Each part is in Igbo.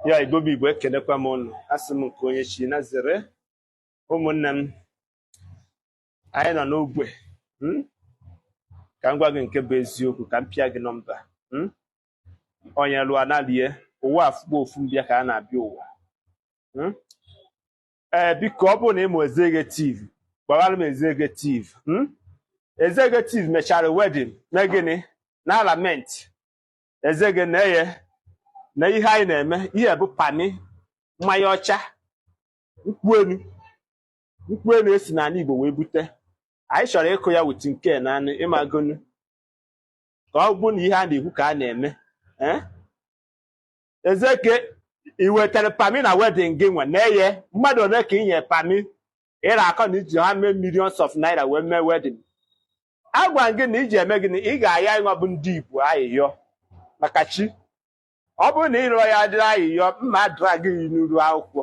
ya igbo bụ igbo ekenekwa m ụnụ asị m nke onye chi ya zere ụmụnne m anyị nọ n'ogbe hmm? ka m gwa gị nke bụ eziokwu ka m pịa gị nọmba hmm? onye lụọ analie ụwa afụ bụ ofu mbịa ka a na-abịa ụwa hmm? ee eh, biko ọ bụrụ na ị ma executive gwaara m executive executive mechara wedding na gịnị na-alamenti executive nna eh na ihe anyị na-eme ihe bụ pami mmanya ọcha nkwụ enu nkwụ enu e si n'ala Igbo wee bute anyị chọrọ ịkụ ya with nke na anụ ị magonu ka ọ bụ na ihe a na-ekwu ka a na-eme eh? executive ị wetara pami na wedding gị nwa nna eh mmadụ ole ka ị nye pami ị na-akọ na i ji how many millions of naira wee mee wedding agwa gị na ị ga-eme gịnị ị ga-ayọ anyị nwa bụ ndị Igbo ayịyọ maka chi ọ bụrụ na ị rịọ ya dịrị ayịyọ m ma adrag gị n'iru akwụkwọ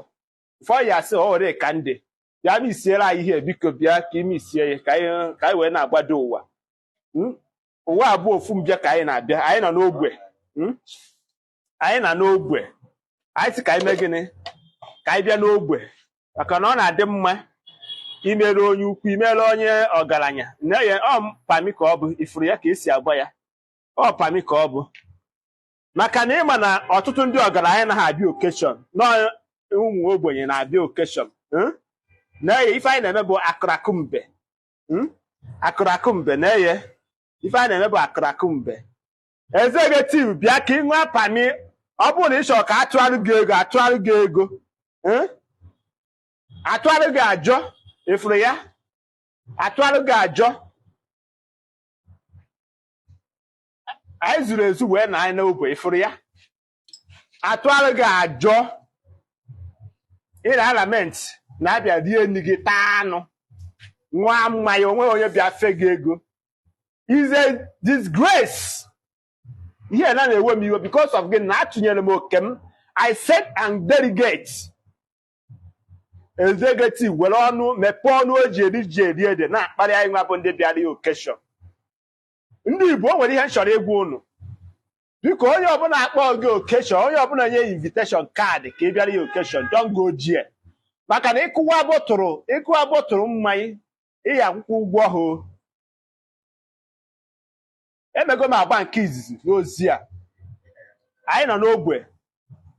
ụfọdụ ya sị ore ka ndị bịa ma isiere anyị ihe biko bịa ka i mezie ya ka anyị wee na-agbado ụwa hmm? ụwa a bụ ofu mbịa ka anyị na-abịa anyị nọ n'ogbe hmm? anyị nọ n'ogbe anyị sị ka anyị mee gịnị ka anyị bịa n'ogbe maka na ọ na-adị mma imere onye ukwu imere onye ọgaranya nna eh ọ pami ka ọ bụ ị fụrụ ya ka e si agba ya ọ pami ka ọ bụ maka na ị ma na ọtụtụ ndị ọgaranya anaghị abịa occasion na ụmụ ogbenye na-abịa occasion hmm? nna eh ife anyị na-eme bụ akụrakụ mbe hmm? akụrakụ mbe nna eh ife anyị na-eme bụ akụrakụ mbe executive bịa ka ị ṅụọ pami ọ bụrụ na ị chọrọ ka a tụarụ gị ego a tụarụ gị ego eh? a tụarụ gị ajọ ị fụrụ ya a tụarụ gị ajọ anyị zuru ezu wee na anyị n'ogbe ị fụrụ ya a tụarụ gị ajọ ị na-alamenti na a bịa rie nri gị taa anụ ṅụọ mmanya o nweghị onye bịa fe gị ego is a disgrace ihe na na-ewe m iwe because of gịnị atụnyere m oke m i sent a delegate executive were ọnụ mepee ọnụ o ji eri ji eri ede na-akparị anyị nwa bụ ndị bịara ya occasion ndị igbo o nwere ihe m chọrọ ịgwa unu biko onye ọbụla kpọ gị occasion onye ọbụla nye invitation card ka ị bịara ya occasion don't go jie maka na ị kụwa bottle ị kụwa bottle mmanya ị ya-akwụkwa ụgwọ ahụ emego m agba nke izizi n'ozi a anyị nọ n'ogbe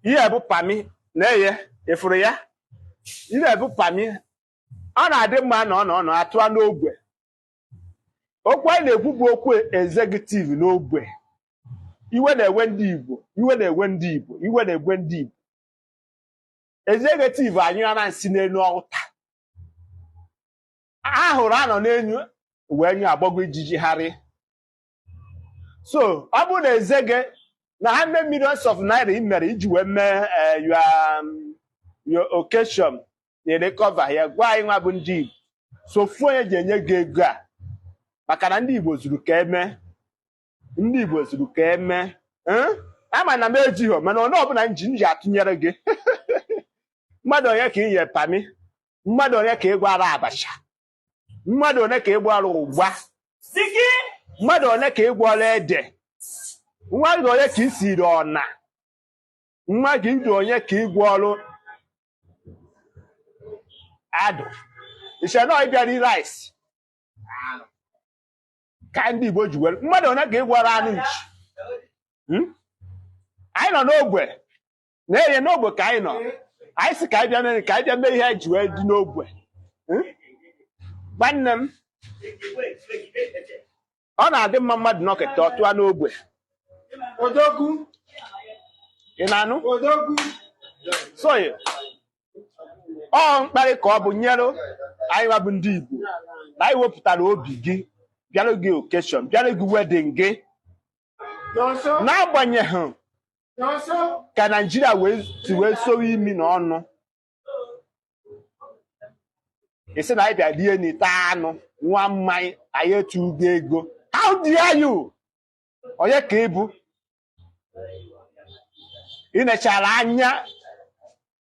ihe bụ pami nna eh ị fụrụ ya ihe bụ pami ọ na-adị mma na ọ nọ ọ nọ atụa n'ogbe okwu anyị na-ekwu bụ okwu executive n'ogbe iwe na-ewe ndị Igbo iwe na-ewe ndị Igbo iwe na-ewe ndị Igbo executive anyụrana nsị n'elu ọta ahụrụ a nọ n'enu wee nyụ agbago ijiji gharị so ọ bụrụ na eze gị na how many millions of naira ị mere iji wee mee eh, your um, your occasion na-recover ya gwa anyị nwa bụ ndị Igbo so ofu onye ji enye gị ego a maka na ndị Igbo zuru ka eme ndị Igbo zuru ka eme Eh? ama na m ejighị mana onye ọbụla m ji m ji atụnyere gị mmadụ one ka ị nye pami mmadụ one ka ị gwọọrọ abacha mmadụ one ka ị gwọọrọ ụgba mmadụ one ka ị gwọọrọ ede mmadụ one ka i siiri ọna mmadụ one ka ị gwọọrọ adụ i che na ịbịa iri rice ka ndị Igbo ji were mmadụ one ka ị gwọọrọ anụ nchi Hmm? anyị nọ n'ogbe na-enye n'ogbe ka anyị nọ anyị si ka anyị bịa mee ka anyị bịa mee ihe e ji wee dị n'ogbe Hmm? nwanne m ọ na-adị mma mmadụ nọkata ọ tụọ n'ogbe Odogwu, ị na-anụ odogwu. so ọ mkparị ka ọ bụ nyere anyị nwa bụ ndị Igbo na anyị wepụtara obi gị bịara gị okeshọn bịara gị wedin gị n'agbanyeghị ka naijiria si wee sowe imi na ọnụ ị sị na anyị bịa rie nri taa anụ ṅụa mmanya anyị atụghị ego how dare you onye ka ị bụ ị nechara anya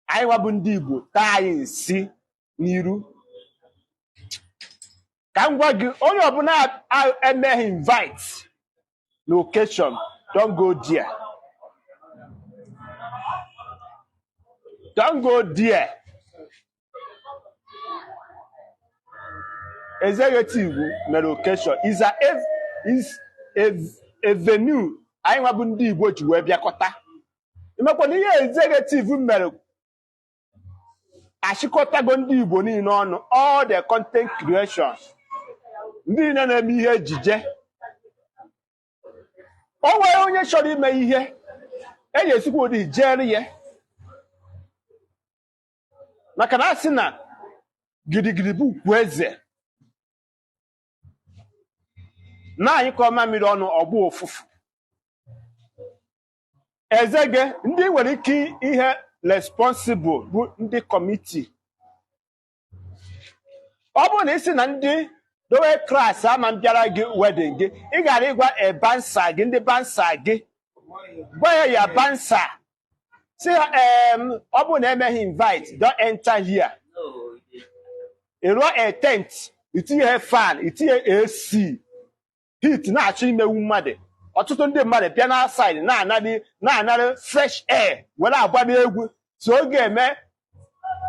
anyị nwa bụ ndị Igbo taa anyị nsị n'iru ka m gwa gị onye ọbụla a- emeghị invite na occasion don't go there don't go there executive mere occasion is a ev- is a, a venue anyị nwa bụ ndị Igbo ji wee bịakọta ị makwa na ihe executive mere achịkọtago ndị Igbo niile ọnụ all the content creations ndị niile na-eme ihe ejije o nwere onye chọrọ ime ihe eji esikwa ụdị jere ya maka na a sị na gidigidi bụ ugwu eze na a nyụkọọ mamịrị ọnụ ọ gbọọ ụfụfụ ezege ndị nwere ike ihe responsible bụ ndị kọmiti ọ bụrụ na ị sị na ndị lower class ama bịara gị wedding gị ị gara ịgwa e bouncer gị ndị bouncer gị gwa ha ya bouncer sị ha em ọ bụrụ na emeghị invite don't enter here ị rụọ a tent itinye fan itinye AC heat na-achọ imewu mmadụ ọtụtụ ndị mmadụ bịa na outside na-anara fresh air were agba n'egwu so ọ ga-eme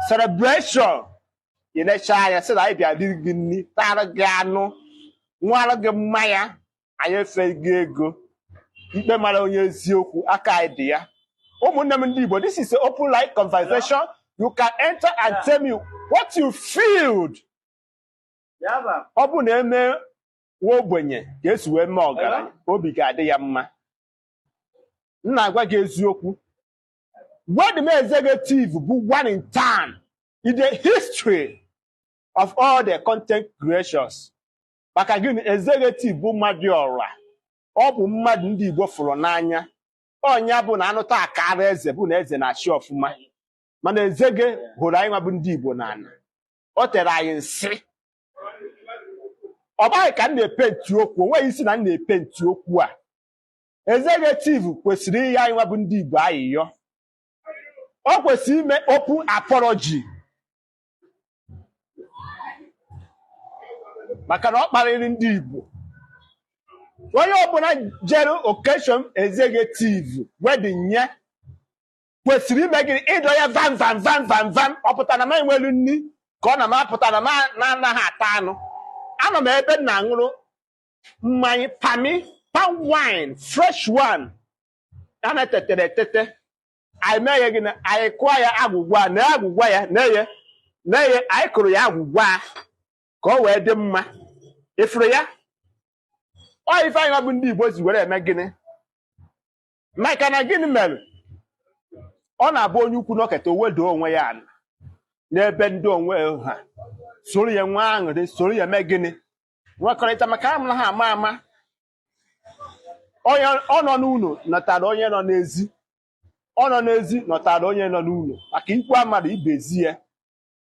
celebration ilecha anya sị na anyị bịa riri gị nri tara gị anụ ṅụọrọ gị mmanya anyị efeghị ego ikpe mara onye eziokwu aka anyị dị ya ụmụnne m ndị Igbo this is an open line conversation you can enter and tell me what you feel ọ bụ na eme nwa ogbenye ka esi wee mee ọgaranya obi ga-adị ya mma m na-agwa gị eziokwu wedding Ezegetive bụ one in town in the history of all the content creations maka gịnị Ezegetive bụ mmadụ ọra ọ bụ mmadụ ndị Igbo fụrụ n'anya ọ nya bụ na anụta akara eze bụ na eze na-achị ọfụma mana Ezege hụrụ anyị nwa bụ ndị Igbo n'ala o tere anyị nsị ọ bụghị ka m na-epenti okwu o nweghị ịsị na m na-epenti okwu a Ezegetive kwesịrị ịyọ anyị nwa bụ ndị Igbo ayịyọ o kwesịrị ime open apology maka na ọ kparịrị ndị Igbo onye ọbụla jere occasion Ezegetive wedding nye kwesịrị ime gịnị ịdọ ya vam vam vam vam vam ọ pụta na m enwerọ nri ka ọ na m apụta na m anaghị ata anụ anọ m ebe m na-aṅụrụ mmanya pami palm wine fresh one a na-etetere etete anyị mee ya gịnị anyị kụọ ya agwụgwa na agwụgwa ya na-eye na-eye anyị kụrụ ya agwụgwa ka ọ wee dị mma ị fụrụ ya ọ ife anyị bụ ndị Igbo ji were eme gịnị maka na gịnị mere ọ na-abụ onye ukwu nọketa o wedo onwe ya ala n'ebe ndị onwe ha soro ya nwee aṅụrị soro ya mee gịnị nwekọrịta maka amụrụ ha ama ama ọ nọ n'ụlọ nọtara onye nọ n'ezi ọ nọ n'ezi nọtara onye nọ n'ụlọ maka ikwu amarọ ibe ezi ya